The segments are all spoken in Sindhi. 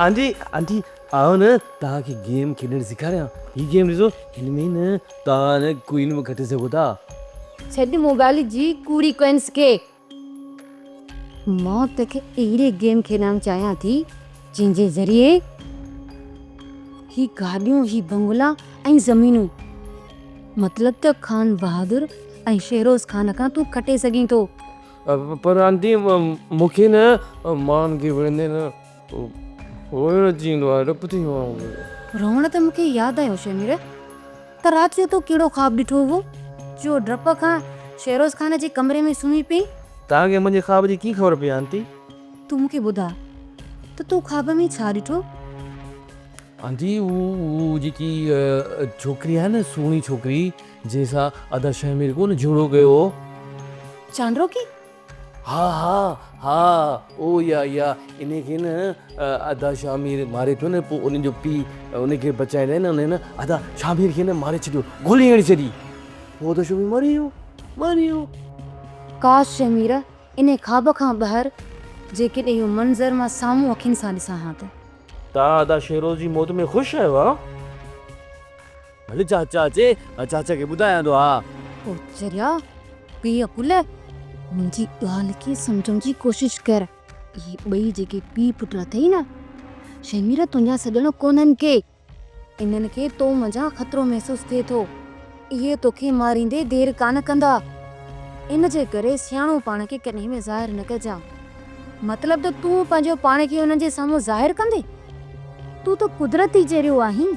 آنٽي آنٽي آء نه توهان کي گيم کيڏڻ سيکاريان هي گيم ڏسو هن ۾ نه توهان ڪوئن به کٽي سگهو ٿا ڇڏ موبائل جي ڪوڙي ڪوئنس کي مان توکي اهڙي گيم کيڏائڻ چاهيان ٿي جنهن جي ذريعي هي گاڏيون، هي بنگلا ۽ زمينون مطلب ته خان بهادر ۽ شهروز خان کان تون کٽي سگهين ٿو. پر آنٽي مون کي نه مان گهورندي نه. روئڻ تي مون کي ياد آيو شيمير ته رات جو تو ڪهڙو خواب ڏٺو هو جو ڊپ کان شيروز خان جي ڪمري ۾ سمهي پئين. توهان کي منهنجي خواب جي ڪيئن خبر پئي آنٽي؟ تون مون کي ٻڌاء ته تو خواب ۾ ڇا ڏٺو؟ آنٽي هو جيڪي ڇوڪري آهي نه سهڻي ڇوڪري جنهن سان ادا شيمير ڪونه جهيڙو ڪيو هو. چانڊروڪي ها ها ها او يا يا انهي کي نه ادا شاهه مير ماري پيو نه پوء انهي جو پي انهي کي بچائڻ لاء نه انهي نه ادا شاهه مير کي نه ماري ڇڏيو گولي هڻي ڇڏي پوء ادا شاهه مير مري ويو مري ويو. ڪاش شاهه مير انهي خواب کان ٻاهر جيڪڏهن اهو منظر مان سامهون اکين سان ڏسان ها ته. توهان ادا شهروز جي موت ۾ خوش آهيو ها؟ ڀلي چاچا اچي چاچا کي ٻڌايان ٿو ها. او چريا بي عقل منهنجي ڳالهه کي سمجهڻ جي ڪوشش ڪر اهي ٻئي جيڪي پي پٽ اٿئي نه شهميره تنهنجا سڄڻ ڪونهن ڪي انهن کي تو منجهان خطرو محسوس ٿئي ٿو اهي توکي ماريندي دير ڪانه ڪندا ان جي ڪري سياڻو پاڻ کي ڪڏهن به ظاهر نه ڪجان مطلب ته تون پنهنجو پاڻ کي انهن جي سامهون ظاهر ڪندي تون ته قدرت ئي جهڙيو آهين.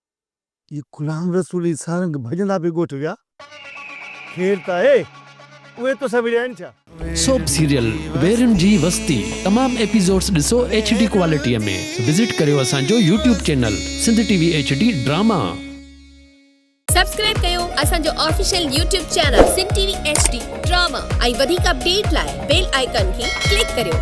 اهي غلام رسول جي سارنگ ڀڄندا به ڳوٺ ويا. خير ته آهي، اهي توسان وڙهيا آهن ڇا؟ سوپ سيريل ويرين جي وستي تمام ايپيسوڊز ڏسو ايڇ ڊي ڪوالٽي ۾ وزٽ ڪريو اسان جو YouTube channel Sindh T V H D drama. Subscribe ڪيو اسان جو official YouTube channel Sindh T V H D drama ۽ وڌيڪ اپڊيٽ لاء بيل آئيڪان کي ڪلڪ ڪريو.